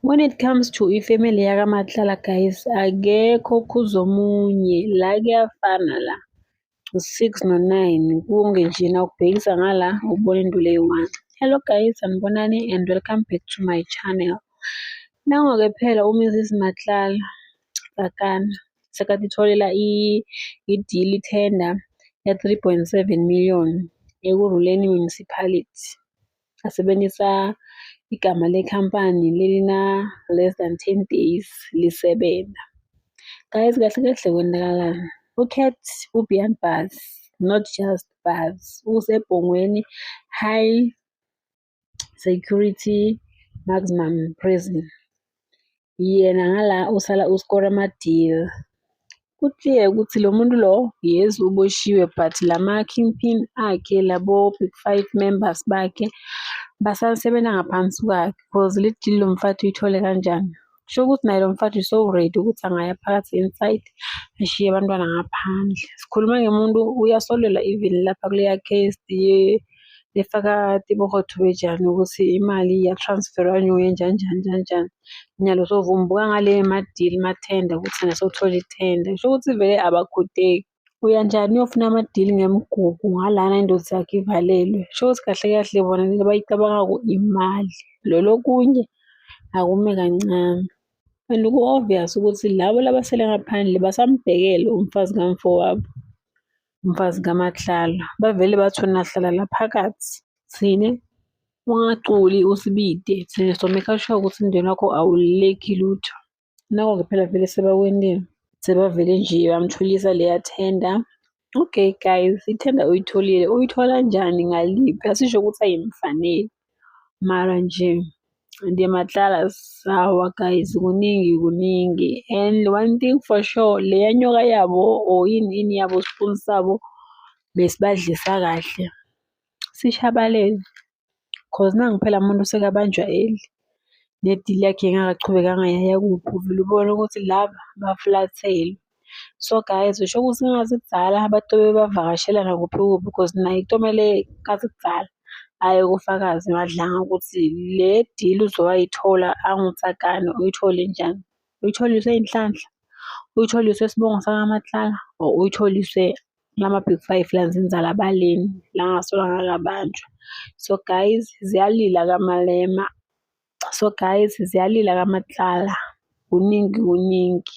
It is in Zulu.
When it comes to ifamily yakaMatlala guys akekho ukhuza omunye la kuyafana la u-six no-nine kunge nje nawubhekisa ngala ubona into leyi-one. Hello guys sanibonani and welcome back to my channel. Nango-ke phela uMrs Matlala Sakana sekade itholela i-deal i-tender ya-three point seven million ekuruleni municipality. asebenzisa igama lekhampani lelina less than 10 days lisebenza guys kahle kahle kwenakalani ucat ubian bus not just bus usebhongweni high security maximum prison yena ngala usala uskora ama-deal kuclear ukuthi lo muntu lo yes uboshiwe but lama-kingpin akhe labo big five members bakhe basasebenza ngaphansi kwakhe because le deal lo mfathi uyithole kanjani kusho ukuthi naye lo mfathi so ready ukuthi angaya phakathi inside ashiye abantwana ngaphandle sikhuluma ngemuntu uyasolelwa even lapha kuleya case lifaka tiborotho bejani ukuthi imali iyatransferwa nyuke njani njani njani njani. Nyalo sovumbuka ngale ma-deal ma-tender ukuthi naso uthole i-tender. Kusho ukuthi vele abakhudeki. Uya njani uyofuna ama-deal ngemigugu ngalana indoda yakho ivalelwe. Kusho ukuthi kahle kahle bona lento abayicabanga imali. Lolo okunye akume kancane. And ku-obvious ukuthi labo labasele ngaphandle basamubhekele umfazi kamfowabo. mfazi kaMatlala. Bavele bathi wena hlala la phakathi. Thine, ungaculi usibide thina someka sure ukuthi umndeni wakho awululeki lutho. Nako-ke phela vele sebakwendeni. Sebavele nje bamthulisa leya tender. Okay guys, ithenda uyitholile. Uyithola njani ngaliphi? Asisho ukuthi ayimfaneli. mara nje ndiye matlala sawa guys kuningi kuningi and one thing for sure le yanyoka yabo or yini yini yabo spoon sabo besibadlisa kahle sishabalele cause nangu phela umuntu sekabanjwa eli nedili yakhe engakaqhubekanga yaya kuphi uvele ubone ukuthi laba baflathelwe so guys usho ukuthi ngazi kudala abantu bebavakashela nakuphi kuphi because naye kutomele ngazi kudala aye kufakazi madlanga ukuthi le deal uzoyayithola angutsakane uyithole njani uyitholiswe inhlanhla uyitholiswe isibongo sakamatlala or uyitholiswe lama big five lanzinzala baleni langasola ngakabanjwa so guys ziyalila kamalema so guys ziyalila kamatlala kuningi kuningi